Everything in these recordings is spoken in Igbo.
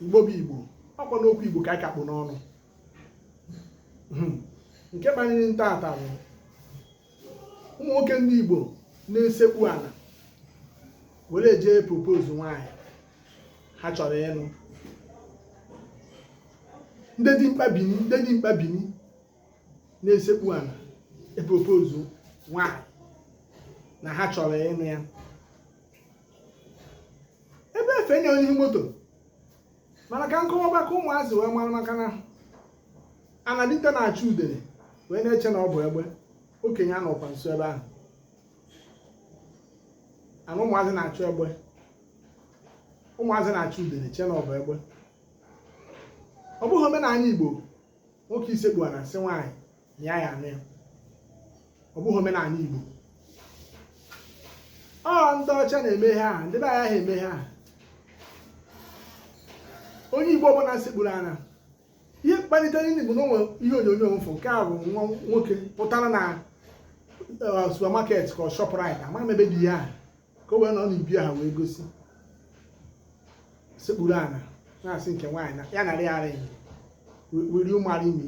igbo bụ igbo ọkwa n'okwu igbo ka anyị ka kpụ n'ọnụ hmm. nke kpaniri m taata bụ ụmụ nwoke ndị igbo na-esekpu ana were jee propose nwaanyị ha chọrọ ịnụ ndị dimkpa bini ndị dimkpa bini na-esekpu ana epropose nwaanyị na ha chọrọ ịnụ ya ebe efe nye onye moto mana ka m kọwaa ka ụmụazị wee mara maka na anadite na-achụ udere wee na-eche na ọ bụ egbe okenye anọkwa nso ebe ahụ ana ụmụazị na-achụ egbe ụmụazị na-achụ udere che na ọ bụ egbe ọ bụghị omenala igbo nwoke isekpu ana asị nwaanyị na ya ya anụ ya ọ bụghị omenala Igbo ọ ndị ọcha na-eme ha ndị be anyị aha eme ha onye Igbo ọbụla sekpuru ana ihe kpalitere ni bụ na o nwe ihe onyonyo m fụ nke a bụ nwa nwoke pụtara na uh, supermarket ka ọ Shoprite ama m ebe dị ya ka o wee nọ n'ibi ha wee gosi sekpuru ana na-asị nke nwaanyị ya nara ring will you marry me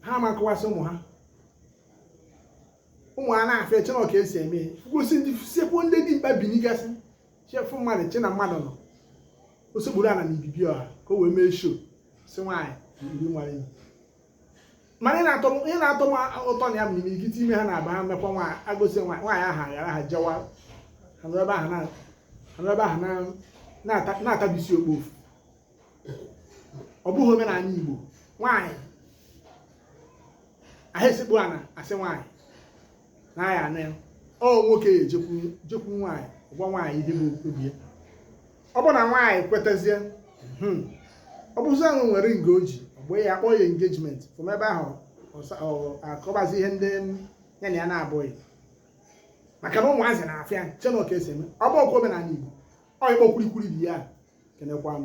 ha ama akọwasị ụmụ ha ụmụ ha na-afụ ya eche na ọ ka e si eme ihe gosi ndị sekpu ndị dimkpa binigasị chefu mmadụ che na mmadụ nọ o sekpuru ana na ibibi ọha ka o wee mee show sị nwaanyị will you marry me mana ihe na-atọ m- ihe na-atọ m ụtọ na ya bụ n'imirikiti ime ha na-abụ ha mekwa nwaanyị agosi nwaanyị nwaanyị ahụ aghara ha jewa ha nọrọ ebe ahụ na- ha nọrọ ebe ahụ na- na-ata- na-atabisi okpofu ọ bụghị omenala Igbo nwaanyị aha esekpu ana asị nwaanyị na ya anụ ya ọ nwoke ya ejekwu jekwu nwaanyị gwa nwaanyị ihe bụ obi ya ọ bụ na nwaanyị kwetazie hmm, ọ bụzi ahụ e were ring o ji gbaa ya akpọ ya engagement from ebe ahụ akọbazi ihe ndị ya na ya na-abụghị maka na ụmụazị na-afụ ya che na ọ ka e si eme ọ bụhọkwa omenala Igbo ọ ịkpọ kwurikwuri dị ya kenekwa m